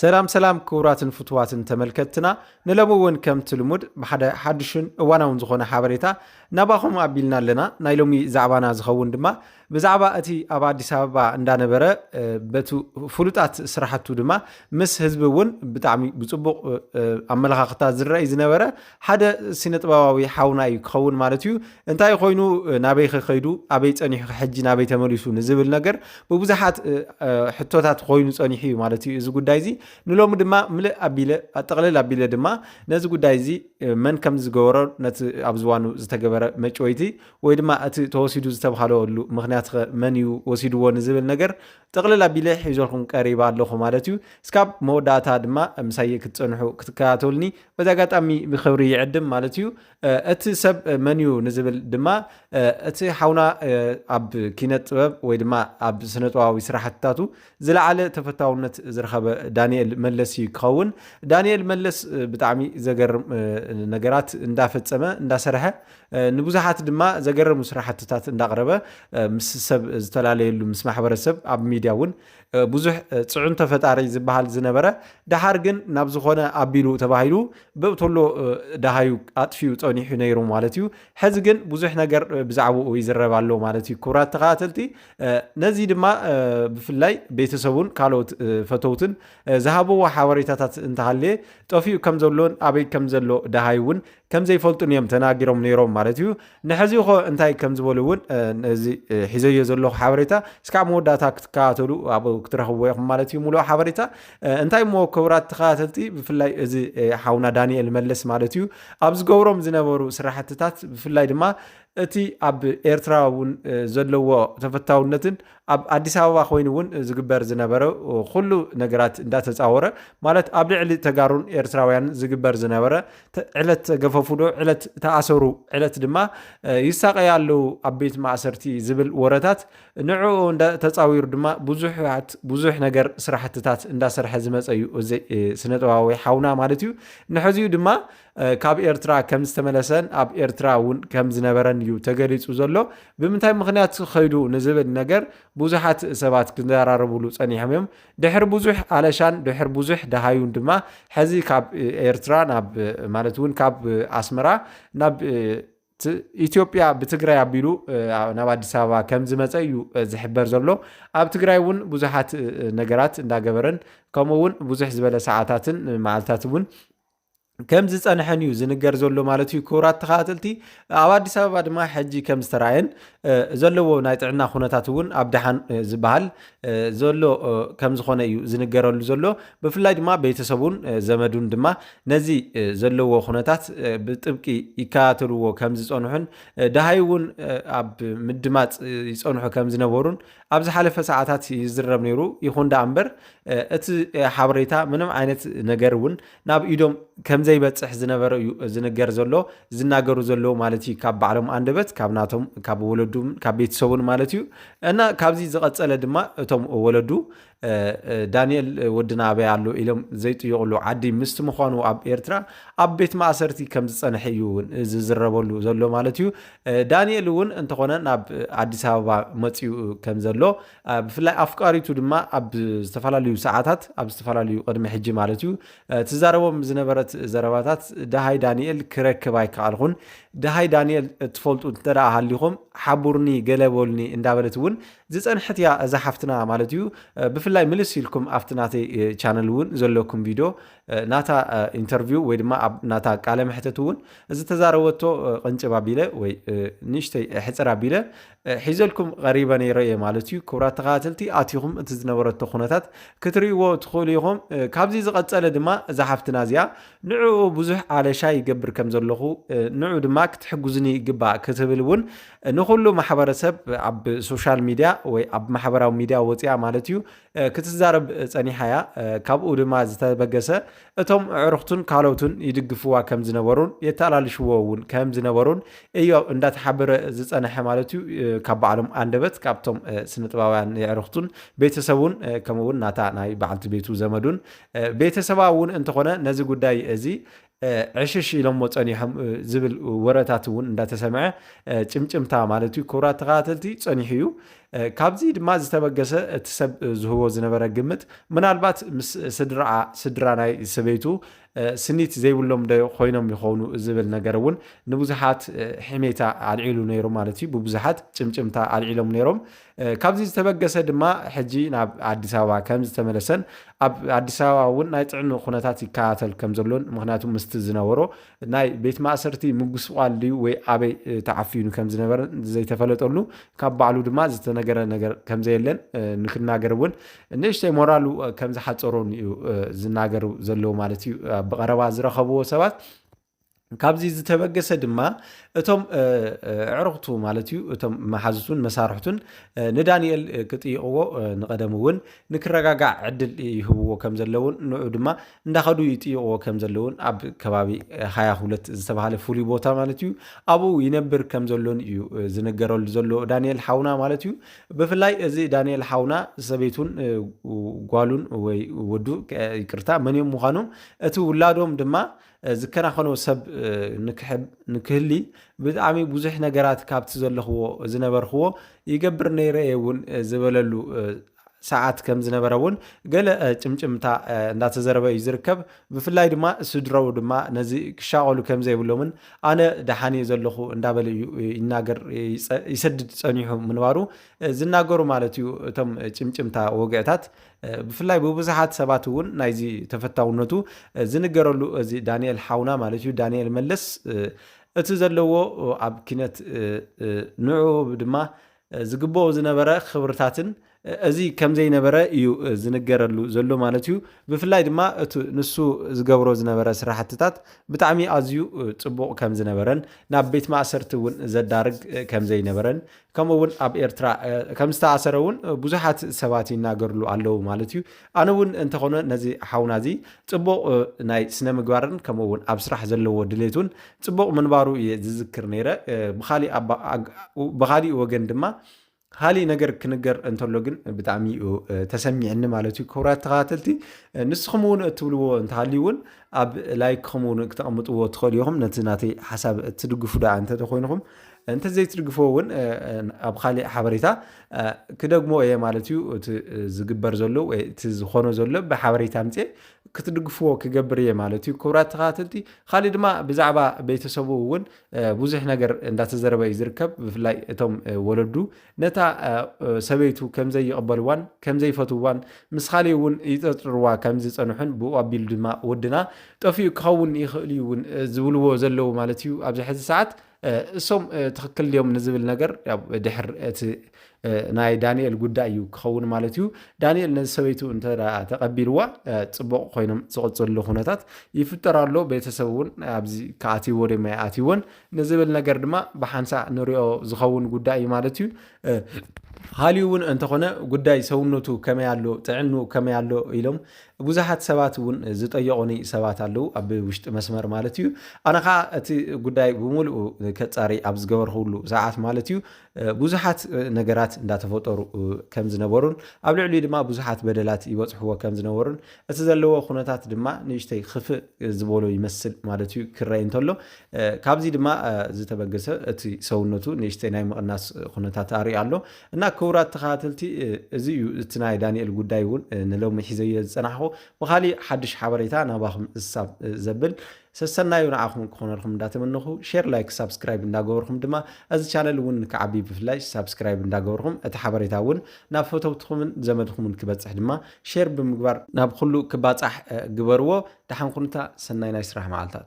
ሰላም ሰላም ክቡራትን ፍትዋትን ተመልከትትና ንሎሚ እውን ከምቲ ልሙድ ብሓደ ሓድሽን እዋናውን ዝኾነ ሓበሬታ ናባኹም ኣቢልና ኣለና ናይ ሎሚ ዛዕባና ዝኸውን ድማ ብዛዕባ እቲ ኣብ ኣዲስ ኣበባ እንዳነበረ በቲ ፍሉጣት ስራሕቱ ድማ ምስ ህዝቢ እውን ብጣዕሚ ብፅቡቕ ኣመለኻኽታ ዝረኣይ ዝነበረ ሓደ ሲነጥበባዊ ሓውና እዩ ክኸውን ማለት እዩ እንታይ ኮይኑ ናበይ ከከይዱ ኣበይ ፀኒሑ ሕጂ ናበይ ተመሊሱ ንዝብል ነገር ብብዙሓት ሕቶታት ኮይኑ ፀኒሑ እዩ ማለት እዩ እዚ ጉዳይ እዚ ንሎሚ ድማ ምልእ ኣቢለ ኣጠቕልል ኣቢለ ድማ ነዚ ጉዳይ እዚ መን ከም ዝገበሮ ነቲ ኣብ ዝዋኑ ዝተገበረ መጭወይቲ ወይ ድማ እቲ ተወሲዱ ዝተብሃለሉ ምክንያት መን እዩ ወሲድዎ ንዝብል ነገር ጥቕልል ኣቢለ ሒዞልኩም ቀሪባ ኣለኹ ማለት እዩ እስካብ መወዳእታ ድማ ምሳየ ክትፀንሑ ክትከታተሉኒ በዚ ኣጋጣሚ ብክብሪ ይዕድም ማለት እዩ። እቲ ሰብ መን እዩ ንዝብል ድማ እቲ ሓውና ኣብ ኪነት ጥበብ ወይ ድማ ኣብ ስነጥበባዊ ስራሕትታቱ ዝለዓለ ተፈታውነት ዝረኸበ ዳንኤል መለስ እዩ ክኸውን። ዳንኤል መለስ ብጣዕሚ ዘገርም ነገራት እንዳፈፀመ እንዳሰርሐ ንብዙሓት ድማ ዘገርሙ ስራሕትታት እንዳቕረበ ምስ ሰብ ዝተላለየሉ ምስ ማሕበረሰብ ኣብ ሚድያ እውን ብዙሕ ፅዕንቶ ፈጣሪ ዝበሃል ዝነበረ ደሓር ግን ናብ ዝኾነ ኣቢሉ ተባሂሉ ብእቶሎ ደሃዩ ኣጥፊኡ ፀኒሑ ነይሩ ማለት እዩ። ሕዚ ግን ብዙሕ ነገር ብዛዕባኡ ይዝረብ ኣሎ ማለት እዩ። ክቡራት ተኸታተልቲ ነዚ ድማ ብፍላይ ቤተሰቡን ካልኦት ፈተውትን ዝሃበዎ ሓበሬታታት እንተሃለየ ጠፊኡ ከም ዘሎን ኣበይ ከም ዘሎ ደሃዩ እውን ከም ዘይፈልጡን እዮም ተናጊሮም ነይሮም ማለት እዩ ንሕዚ ኮ እንታይ ከም ዝበሉ እውን እዚ ሒዘዮ ዘለኹ ሓበሬታ እስካብ መወዳእታ ክትከታተሉ ኣብ ክትረኽብዎ ኢኹም ማለት እዩ ሙሉእ ሓበሬታ እንታይ እሞ ክብራት ተኸታተልቲ ብፍላይ እዚ ሓውና ዳንኤል መለስ ማለት እዩ ኣብ ዝገብሮም ዝነበሩ ስራሕትታት ብፍላይ ድማ እቲ ኣብ ኤርትራ እውን ዘለዎ ተፈታውነትን ኣብ ኣዲስ ኣበባ ኮይኑ እውን ዝግበር ዝነበረ ኩሉ ነገራት እንዳተፃወረ ማለት ኣብ ልዕሊ ተጋሩን ኤርትራውያንን ዝግበር ዝነበረ ዕለት ተገፈፉዶ ዕለት ተኣሰሩ ዕለት ድማ ይሳቀዩ ኣለዉ ኣብ ቤት ማእሰርቲ ዝብል ወረታት ንዕኡ ተፃዊሩ ድማ ብዙሓት ብዙሕ ነገር ስራሕትታት እንዳሰርሐ ዝመፀ እዩ እዚ ስነጥበባዊ ሓውና ማለት እዩ ንሕዚኡ ድማ ካብ ኤርትራ ከም ዝተመለሰን ኣብ ኤርትራ እውን ከም ዝነበረን እዩ ተገሊጹ ዘሎ። ብምንታይ ምኽንያት ኸይዱ ንዝብል ነገር ብዙሓት ሰባት ክዘራረብሉ ጸኒሖም እዮም። ድሕሪ ብዙሕ ኣለሻን ድሕሪ ብዙሕ ደሃዩን ድማ ሕዚ ካብ ኤርትራ ናብ ማለት እውን ካብ ኣስመራ ናብ ኢትዮጵያ ብትግራይ ኣቢሉ ናብ ኣዲስ ኣበባ ከም ዝመፀ እዩ ዝሕበር ዘሎ ኣብ ትግራይ እውን ብዙሓት ነገራት እንዳገበረን ከምኡ እውን ብዙሕ ዝበለ ሰዓታትን መዓልታት እውን ከም ዝፀንሐን እዩ ዝንገር ዘሎ ማለት እዩ ክቡራት ተኸታተልቲ ኣብ ኣዲስ ኣበባ ድማ ሕጂ ከም ዝተረኣየን ዘለዎ ናይ ጥዕና ኩነታት እውን ኣብ ድሓን ዝበሃል ዘሎ ከም ዝኾነ እዩ ዝንገረሉ ዘሎ ብፍላይ ድማ ቤተሰቡን ዘመዱን ድማ ነዚ ዘለዎ ኩነታት ብጥብቂ ይከታተልዎ ከም ዝፀንሑን ድሃይ እውን ኣብ ምድማፅ ይፀንሑ ከም ዝነበሩን ኣብ ዝሓለፈ ሰዓታት ይዝረብ ነይሩ ይኹን ዳኣ እምበር እቲ ሓበሬታ ምንም ዓይነት ነገር እውን ናብ ኢዶም ከምዘይበፅሕ ዝነበረ እዩ ዝንገር ዘሎ ዝናገሩ ዘለዉ ማለት እዩ ካብ ባዕሎም ኣንደበት ካብ ናቶም ካብ ወለዱ ካብ ቤተሰቡን ማለት እዩ እና ካብዚ ዝቐፀለ ድማ እቶም ወለዱ ዳንኤል ወድና ኣበይ ኣሎ ኢሎም ዘይጥይቕሉ ዓዲ ምስቲ ምዃኑ ኣብ ኤርትራ ኣብ ቤት ማእሰርቲ ከም ዝፀንሐ እዩ እውን ዝዝረበሉ ዘሎ ማለት እዩ ዳንኤል እውን እንተኾነ ናብ ኣዲስ ኣበባ መፅኡ ከም ዘሎ ብፍላይ ኣፍቃሪቱ ድማ ኣብ ዝተፈላለዩ ሰዓታት ኣብ ዝተፈላለዩ ቅድሚ ሕጂ ማለት እዩ ትዛረቦም ዝነበረት ዘረባታት ደሃይ ዳንኤል ክረክብ ኣይከኣልኹን ደሃይ ዳንኤል እትፈልጡ እንተ ሃሊኹም ሓቡርኒ ገለ በሉኒ እንዳበለት እውን ዝፀንሐት እያ እዛ ሓፍትና ማለት እዩ ብፍላይ ምልስ ኢልኩም ኣብቲ ናተይ ቻነል እውን ዘለኩም ቪድዮ ናታ ኢንተርቪው ወይ ድማ ኣብ ናታ ቃለ መሕተት እውን ዝተዛረበቶ ቅንጭብ ኣቢለ ወይ ንእሽተይ ሕፅር ኣቢለ ሒዘልኩም ቐሪበ ነይረ እየ ማለት እዩ። ክቡራት ተኸታተልቲ ኣቲኹም እቲ ዝነበረቶ ኩነታት ክትርእይዎ ትኽእሉ ኢኹም። ካብዚ ዝቐጸለ ድማ እዛ ሓፍትና እዚኣ ንዕኡ ብዙሕ ኣለሻ ይገብር ከም ዘለኹ ንዑ ድማ ክትሕግዙኒ ይግባእ ክትብል እውን ንኹሉ ማሕበረሰብ ኣብ ሶሻል ሚድያ ወይ ኣብ ማሕበራዊ ሚድያ ወፂኣ ማለት እዩ ክትዛረብ ጸኒሓ እያ፣ ካብኡ ድማ ዝተበገሰ እቶም ኣዕሩኽቱን ካልኦቱን ይድግፍዋ ከም ዝነበሩን የተኣላልሽዎ እውን ከም ዝነበሩን እዩ እንዳተሓበረ ዝጸንሐ ማለት እዩ። ካብ ባዕሎም ኣንደበት ካብቶም ስነጥባውያን የዕሩኽቱን ቤተሰቡን ከምኡውን ናታ ናይ በዓልቲ ቤቱ ዘመዱን ቤተሰባ እውን እንተኾነ ነዚ ጉዳይ እዚ ዕሽሽ ኢሎሞ ጸኒሖም ዝብል ወረታት እውን እንዳተሰምዐ ጭምጭምታ ማለት እዩ። ክቡራት ተኸታተልቲ ጸኒሑ እዩ። ካብዚ ድማ ዝተበገሰ እቲ ሰብ ዝህቦ ዝነበረ ግምት ምናልባት ምስ ስድራኣ ስድራ ናይ ሰበይቱ ስኒት ዘይብሎም ዶ ኮይኖም ይኾኑ ዝብል ነገር እውን ንብዙሓት ሕሜታ ኣልዒሉ ነይሩ ማለት እዩ። ብብዙሓት ጭምጭምታ ኣልዒሎም ነይሮም። ካብዚ ዝተበገሰ ድማ ሕጂ ናብ ኣዲስ ኣበባ ከምዝተመለሰን ኣብ ኣዲስ ኣበባ እውን ናይ ጥዕንኡ ኩነታት ይከታተል ከምዘሎን ምክንያቱ ምስቲ ዝነበሮ ናይ ቤት ማእሰርቲ ምጉስቋል ድዩ ወይ ኣበይ ተዓፊኑ ከምዝነበረን ዘይተፈለጠሉ ካብ ባዕሉ ድማ ዝተነገረ ነገር ከምዘየለን ንክናገር እውን ንእሽተይ ሞራሉ ከምዝሓፀሮን እዩ ዝናገሩ ዘለዉ ማለት እዩ ብቐረባ ዝረኸብዎ ሰባት ካብዚ ዝተበገሰ ድማ እቶም ኣዕሩኽቱ ማለት እዩ እቶም መሓዙቱን መሳርሕቱን ንዳንኤል ክጥይቕዎ ንቐደም እውን ንክረጋጋዕ ዕድል ይህብዎ ከም ዘለውን ንዑ ድማ እንዳኸዱ ይጥይቕዎ ከም ዘለውን ኣብ ከባቢ ሃያ ሁለት ዝተባሃለ ፍሉይ ቦታ ማለት እዩ ኣብኡ ይነብር ከም ዘሎን እዩ ዝነገረሉ ዘሎ ዳንኤል ሓውና ማለት እዩ ብፍላይ እዚ ዳንኤል ሓውና ሰበይቱን ጓሉን ወይ ወዱ ይቅርታ መን እዮም ምዃኖም እቲ ውላዶም ድማ ዝከናኸኖ ሰብ ንክህሊ ብጣዕሚ ብዙሕ ነገራት ካብቲ ዘለኽዎ ዝነበርክዎ ይገብር ነይረ እየ እውን ዝበለሉ ሰዓት ከም ዝነበረ እውን ገለ ጭምጭምታ እንዳተዘረበ እዩ ዝርከብ ብፍላይ ድማ ስድረኡ ድማ ነዚ ክሻቐሉ ከም ዘይብሎምን ኣነ ደሓን እየ ዘለኹ እንዳበለ እዩ ይናገር ይሰድድ ፀኒሑ ምንባሩ ዝናገሩ ማለት እዩ እቶም ጭምጭምታ ወግዕታት ብፍላይ ብብዙሓት ሰባት እውን ናይዚ ተፈታውነቱ ዝንገረሉ እዚ ዳንኤል ሓውና ማለት እዩ ዳንኤል መለስ እቲ ዘለዎ ኣብ ኪነት ንዑ ድማ ዝግብኦ ዝነበረ ክብርታትን እዚ ከም ዘይነበረ እዩ ዝንገረሉ ዘሎ ማለት እዩ ብፍላይ ድማ እቲ ንሱ ዝገብሮ ዝነበረ ስራሕትታት ብጣዕሚ ኣዝዩ ፅቡቕ ከም ዝነበረን ናብ ቤት ማእሰርቲ እውን ዘዳርግ ከም ዘይነበረን ከምኡ እውን ኣብ ኤርትራ ከም ዝተኣሰረ እውን ብዙሓት ሰባት ይናገርሉ ኣለዉ ማለት እዩ ኣነ እውን እንተኾነ ነዚ ሓውና እዚ ፅቡቕ ናይ ስነ ምግባርን ከምኡ እውን ኣብ ስራሕ ዘለዎ ድሌት እውን ፅቡቕ ምንባሩ እየ ዝዝክር ነይረ ብካሊእ ወገን ድማ ካሊእ ነገር ክንገር እንተሎ ግን ብጣዕሚ እዩ ተሰሚዕኒ ማለት እዩ ክብራት ተኸታተልቲ ንስኹም እውን እትብልዎ እንተሃልዩ እውን ኣብ ላይክኹም እውን ክተቐምጥዎ ትኽእሉ ኢኹም ነቲ ናተይ ሓሳብ እትድግፉ ደኣ እንተተኮይንኹም እንተ ዘይትድግፍዎ እውን ኣብ ኻሊእ ሓበሬታ ክደግሞ እየ ማለት እዩ። እቲ ዝግበር ዘሎ ወይ እቲ ዝኾኖ ዘሎ ብሓበሬታ ምጽኤ ክትድግፍዎ ክገብር እየ ማለት እዩ። ክብራት ተኸታተልቲ ኻሊእ ድማ ብዛዕባ ቤተሰቡ እውን ብዙሕ ነገር እንዳተዘረበ እዩ ዝርከብ። ብፍላይ እቶም ወለዱ ነታ ሰበይቱ ከምዘይቕበልዋን ከምዘይፈትዋን ምስ ኻሊእ እውን ይጠርጥርዋ ከምዝጸንሑን ብኡ ኣቢሉ ድማ ወድና ጠፊኡ ክኸውን ይኽእል እዩ እውን ዝብልዎ ዘለዉ ማለት እዩ ኣብዚ ሕዚ ሰዓት እሶም ትክክል ድዮም ንዝብል ነገር ድሕር እቲ ናይ ዳንኤል ጉዳይ እዩ ክኸውን ማለት እዩ። ዳንኤል ነዚ ሰበይቱ እንተ ተቐቢልዋ ፅቡቕ ኮይኖም ዝቕፅሉ ኩነታት ይፍጠር ኣሎ። ቤተሰብ እውን ኣብዚ ከኣትይዎ ድማ ይኣትይዎን ንዝብል ነገር ድማ ብሓንሳእ ንሪኦ ዝኸውን ጉዳይ እዩ ማለት እዩ። ሃልዩ እውን እንተኾነ ጉዳይ ሰውነቱ ከመይ ኣሎ ጥዕኑ ከመይ ኣሎ ኢሎም ብዙሓት ሰባት እውን ዝጠየቑኒ ሰባት ኣለዉ፣ ኣብ ውሽጢ መስመር ማለት እዩ። ኣነ ከዓ እቲ ጉዳይ ብምሉኡ ከፃሪ ኣብ ዝገበርኩሉ ሰዓት ማለት እዩ ብዙሓት ነገራት እንዳተፈጠሩ ከም ዝነበሩን ኣብ ልዕሊኡ ድማ ብዙሓት በደላት ይበፅሕዎ ከም ዝነበሩን እቲ ዘለዎ ኩነታት ድማ ንእሽተይ ክፍእ ዝበሎ ይመስል ማለት እዩ ክረኣይ እንተሎ ካብዚ ድማ ዝተበገሰ እቲ ሰውነቱ ንእሽተይ ናይ ምቕናስ ኩነታት ኣርእዩ ኣሎ። እና ክቡራት ተኸታተልቲ እዚ እዩ እቲ ናይ ዳንኤል ጉዳይ እውን ንሎሚ ሒዘዮ ዝፀናሕኹ ብኻሊእ ሓድሽ ሓበሬታ ናባኹም እሳብ ዘብል ሰሰናዩ ንዓኹም ክኾነልኩም እንዳተመነኹ ሼር ላይክ ሳብስክራይብ እንዳገበርኩም ድማ እዚ ቻነል እውን ንክዓቢ ብፍላይ ሳብስክራይብ እንዳገበርኩም እቲ ሓበሬታ እውን ናብ ፈተውትኹምን ዘመድኹምን ክበፅሕ ድማ ሼር ብምግባር ናብ ኩሉ ክባፃሕ ግበርዎ ደሓን ኩኑታ ሰናይ ናይ ስራሕ መዓልታት